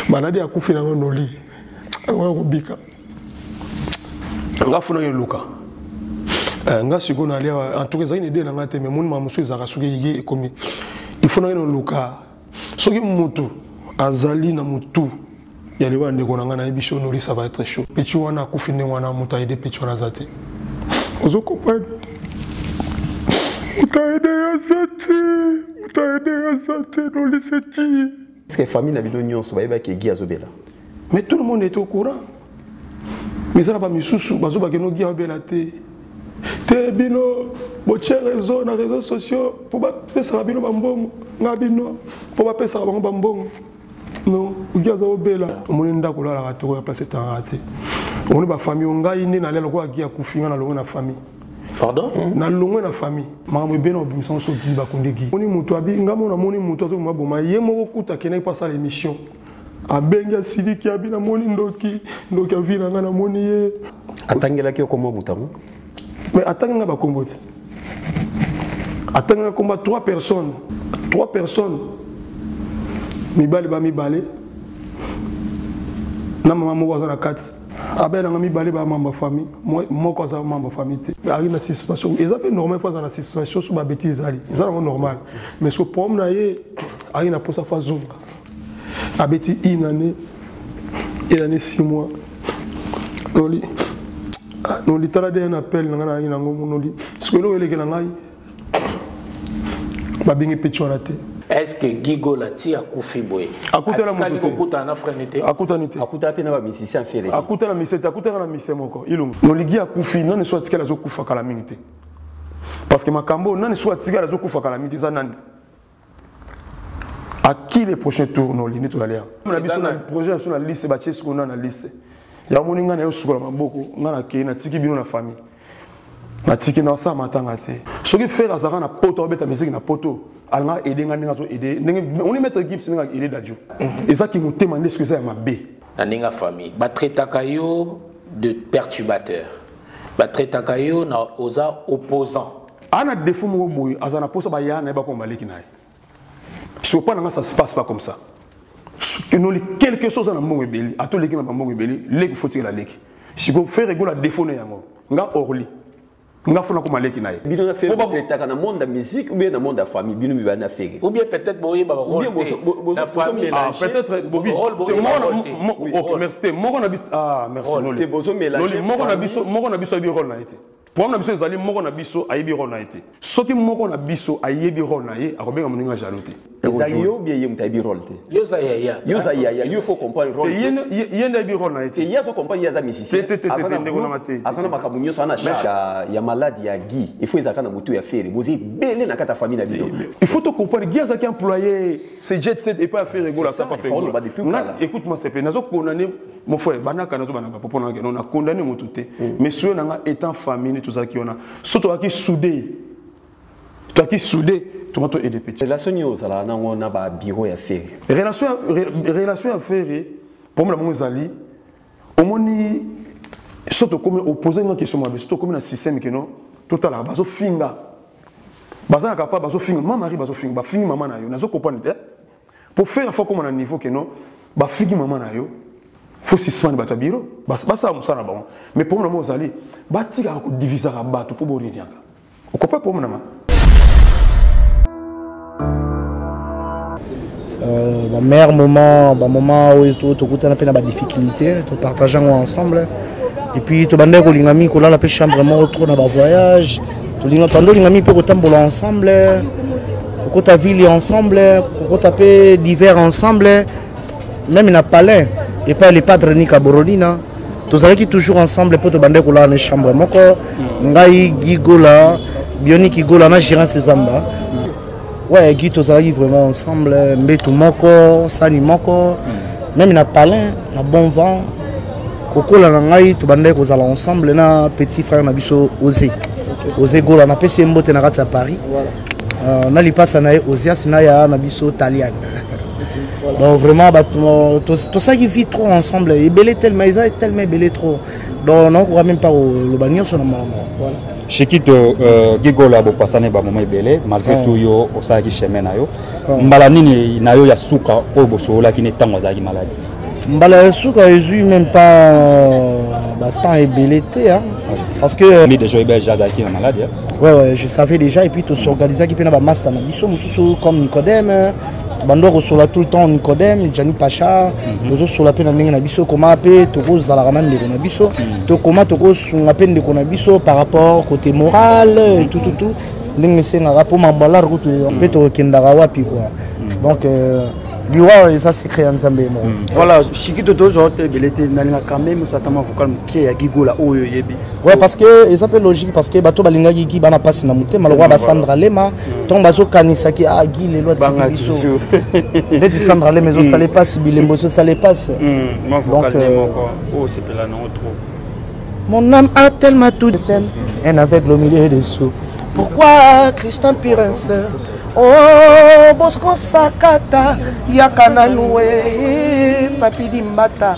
maladi akufi nango noli akoya kobika nga funaki eluka eh, nga sikoyo nali awa en tout cas ezalaki na idee na nga te mais moni ma mosusu ezalaka soki ye ekomi ifunaki noluka soki motu azali na motu ya liwa ndeko na ngai nayebi so nori ça va être chaud petit wana akufi ndenge wana moto aide petit wana aza te ozo comprendre moto aide aza te moto aide aza te nolise ti parceke famille na bino nyonso bayebaki egi azobela mais tout le monde est au courant mais eza na bamisusu bazobake nogi abela te te bino botie réseau na réseau sociaux mpo bapesaka bino bambongo na bino mpo bapesaka bango bambongo non oki aza obela omoni ndako olalaka toko ya place etangaka te omoni bafamille o ngai nde nalia lokola ki akufi ngai nalongo na famille pardon hmm? nalongwe na famille makambo ebele na obimisa nyonso okili bakundeki moni moto abi ngai mona moni moto azoki maboma ye moko kuta akendaki mpo asala émission abengi asiliki abi namoni ndoki ndoki avi na ngai namoni ye atangelaki okoma moto yango mais atangi nga bakombo ti atangi nga komba trois personnes trois personnes mibali ba mibale na mama moko aza na kati abelanga mibale ba mamba famille moko aza mamba famille te azali na suspension eza mpe normal mpo aza na suspension so babeti ezali eza nango normal mais so problème na ye azali na mposa fo azonga abeti une année une année six mois noli ah, noli tala de un appel na ngai nayangi na yango noli sikoyo eloko elekela ngai babengi peti wana te est-ce que Gigo la tia kufi boye akutana moto te akutana na frère nete akutani te akutana pe na ba musiciens fele akutana musicien te akutana na musicien moko ilungu noligi akufi nani so atikala zo kufa kala mingi te parce que makambo nani so atikala zo kufa kala mingi te eza nani à qui les prochains tours no lini tozali awa na biso na projet na biso na liste batie sikoyo na na liste yango moni ngai na yo sukola maboko ngai nakei natiki bino na famille natiki na osala matanga te soki fere azalaka na poto abeta miziki na poto alingaka aide ngai ndenge azo aide ndenge oni maître gips ndenge aide dadio mhm. eza kimotema nde soki eza ya mabe na ndenge ya famille batraitaka yo de perturbateur batraitaka yo na oza opposant ana defaut moko boye aza na posa baya na ye bakoma baleki na ye sopa na nga ça se passe pas comme ça enoli quelque chose na mbongo ebeli ata oleki na bambongo ebeli leki fotikela leki siko fere egola defaut na yango nga orly nga fona koma leki na ye bino na fere botetaka na monde ya musique ou bien na monde ya famille bino mibali na fere ou bien peut-être boyeba rôle na famille ah peut-être bobi rôle bobi ok merci te moko na biso ah merci noli moko na biso moko na biso yebi rôle na ye te Problème na biso ezali moko na biso ayebi role na ye te. Soki moko na biso ayebi role na ye, akobenga moninga jaloux te. Eza yo bien ye mutayebi role te. Yo za yaya. Yo za yaya, yo faut comprendre role. Ye ye nda yebi role na ye te. Ye azo comprendre ye aza musicien. Te te te te ndeko na te. Azana makambo nyoso ana charge ya ya malade ya Guy. Il faut ezaka na mutu ya Ferre. Bozi belé na kata famille na bino. Il faut to comprendre Guy azaki employé, c'est jet set et pas Ferre Gola ça pas Ferre. Écoute-moi c'est pas nazo condamner mon frère banaka nazo banaka popo na keno na condamné mutu te mm. mais soyo nanga étant famille tozalaki wana so tozalaki soudé tozalaki soudé tonga to aide petit relation nini ozalaka nango na ba bureau ya ferre relation relation ya ferre problème na bango ezali omoni so tokomi opose nga question mabe so tokomi na système keno totalaka bazofinga bazalaka pa bazofinga ma mari bazofinga bafingi mama na yo nazo comprendre te po fela fo akoma na niveau ke no bafiki mama na yo fo suspendre bato ya biro basala mosala na bango mais problème na bango ozali batikaka kodivisaka bato mpo boriniaka okopa problème nanga Euh, ba meilleur moment ba moment oyo tokutana mpe na ba difficulté topartage yango ensemble et puis tobandaki kolinga mingi kolala mpe chambre moko trop na ba voyage tolinga tando olinga mingi mpe kotambola ensemble kokota ville ensemble kokota mpe divers ensemble meme na palin epai le padre nika borolina tozalaki toujours ensemble mpo tobandaki kolala na chambre moko ngai gigola bioniki gola na gérance zamba Ouais, Guy, tozalaki vraiment ensemble, mbetu moko, sani moko, mm. même na palin, na bon vent, kokola na ngai tobandaki kozala ensemble na petit frère na biso ose ose gola napesi ye mbote na kati ya paris euh, na lipasa na ye osias na ya na biso talian donc vraiment tosalaki vie trop ensemble ebele tellement eza tellement ebele trop donc nakokoka même pas koloba nyonso na makambo voilà Shikito euh, Gigolo abopasane ba moment ebele malgré ouais. tout yo osalaki chemin na yo ouais. mbala nini na yo ya suka oyo bosololaki ne ntango azalaki maladi mbala ya suka ezwi même pas euh, batemps ebele te hein. ouais. parce que euh, déjà ebele azalaki na maladi hein. ouais, ouais, je savais déjà et puis tosorganisaki mpe na bamasta na biso mosusu comme nicodème bando akosola tout le temps nicodème jani pacha mhm. tozosola mpe na ndenge na biso koma mpe tokozalaka na ndeko na biso mhm. tokoma tokosunga mpe ndeko na biso par rapport côté moral mhm. tout tout tout ndenge esengaka mpo mambalar kutu mpe tokendaka wapi kua donc euh, liwa eza secret ya nzambe ye moko voilà shikito tozwa te ebele te nalinga quand même osatama vocal moke ya gigola oyo oyebi Ouais, parce que eza mpe logique parce que bato balingaki gi bana mpasi na motema lokola basandra lema ntango mm. bazokanisaki a ah, gi lelo atiki biso neti sandra lema ezosala epasi mm. bilembo ezosala epasi mm, donc euh, oh, mon âme a tellement tout tel un aveugle au milieu des sous pourquoi christian pirens oh bosco sakata yaka nanu e eh, papidi mbata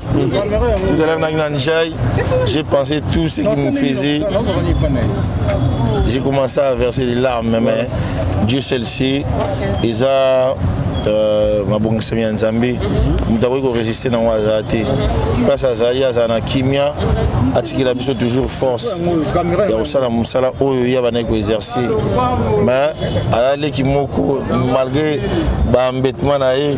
Tout à l'heure, j'ai pensé tout ce qu'il me faisait. J'ai commencé à verser des larmes, mais Dieu seul sait. Et ça, euh, mabongisami ya nzambe moto akoki korésiste nango azala te place azali azala na kimia atikela biso toujours force ya kosala mosala oyo ye abandaki koexerce mais aza leki moko malgré baambetement na ye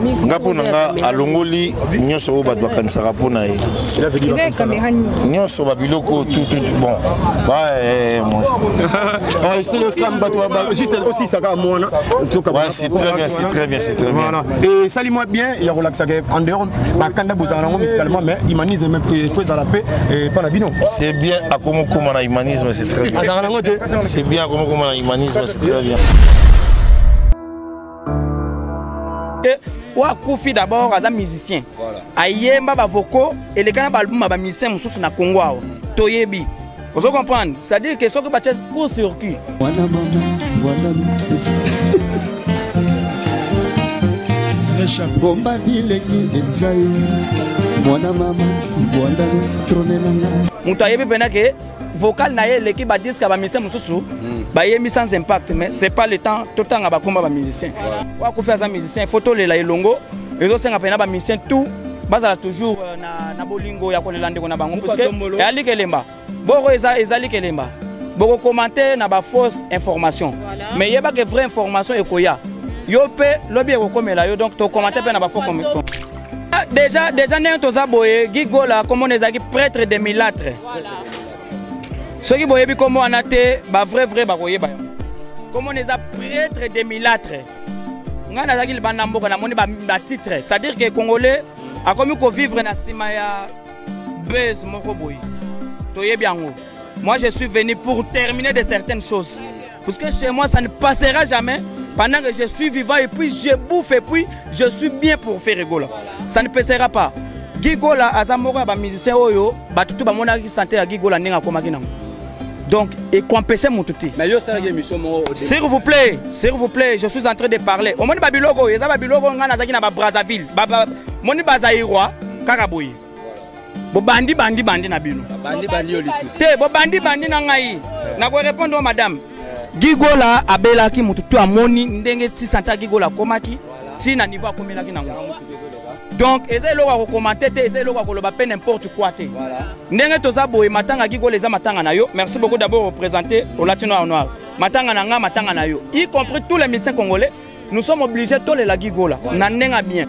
nga mpo na nga alongoli nyonso oyo bato bakanisaka mpo na ye nyonso babiloko tutu bon eh, eh, ah, esali mwa bien ya kolakisaka en dehors bakanda bozala nango musicalement mais humanisme meme fo ezala mpe epa eh, na bino c'est bien akomokoma na humanisme c'est très bien azalaka nango te c'est bien akomokoma na humanisme c'est très bien Eh, oyo akufi d'abord aza musicien ayemba bavoko eleka na baalbum ya bamusicien mosusu na congo awa toyebi ozo comprendre c'est-à-dire que soki batie court circuit bomba bileki ezai mwana mama vwandalo tronenanga moto ayebi mpena ke vocal na ye eleki ba disque ya ba musicien mosusu hmm. bayemi sans impact mais c'est pas le temps totanga bakomba ba musicien oya kofi aza musicien faut tolela elongo ezosenga mpena ba musicien tout bazala toujours euh, na, na bolingo ya kolela ndeko na bango puiske eyali kelemba boko eza, ezali kelemba bokokomante na bafausse information voilà. mais yeba ke vraie information ekoya yo mpe lobi ekokomela yo donc tokomante mpe na bafaux commission deja deja ndenge toza boye gi gola nkombo na ezalaki prêtre de milatre soki boyebi nkombo wana te bavrai vrai bakoyeba yango nkombo na eza prêtre de milatre ngai nazalaki libanda mboka namoni batitre c'est à dire que congolais akomi kovivre na nsima ya base moko boye toyebi yango moi je suis venu pour terminer de certaines choses Parce que chez moi, ça ne passera jamais pendant que je suis vivant et puis je bouffe et puis je suis bien pour faire Gola. Ça ne passera pas. Guy Gola aza moko ya ba musicien oyo bato tout bamonaki santé ya Guy Gola ndenge akomaki nango. Donc ekompeshe motu te. Mais yo salaki émission moko. S'il vous plaît, s'il vous plaît, je suis en train de parler. Omoni ba biloko oyo eza ba biloko ngai nazalaki na ba Brazzaville. Ba, ba, moni ba Zaïrois kaka boye. bobandi bandi bandi na bino te bobandi bandi na ngai eh. nakorepondre o madame eh. gigola abelaki motu to amoni ndenge ti santa gigola akomaki ti na niveau akomelaki nango donc eza eloko ya kokomante te eza eloko ya koloba mpe n'importe quoi te ndenge toza boye matanga gigola eza matanga na yo merci beaucoup d'abord représente olati noir noir matanga na ngai matanga na yo y compris tous les médecins congolais nous sommes obligés tolela gigola na ndenge ya bien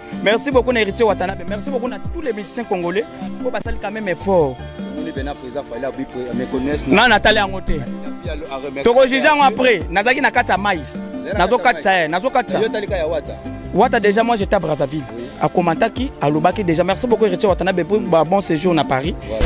Merci beaucoup na Héritier Watanabe. Merci beaucoup na tous les musiciens congolais. Ko basali quand même effort. Moni bena président Fayla bi me connaissent. Na na tali yango te. Toko juger yango après. Nazaki na kati ya mai. Nazo kati ça, nazo kati ça. Yo tali ka ya Wata. Wata déjà moi j'étais à Brazzaville. Oui. A commentaki, a lobaki déjà. Merci beaucoup Héritier Watanabe pour un bon séjour na Paris. Voilà.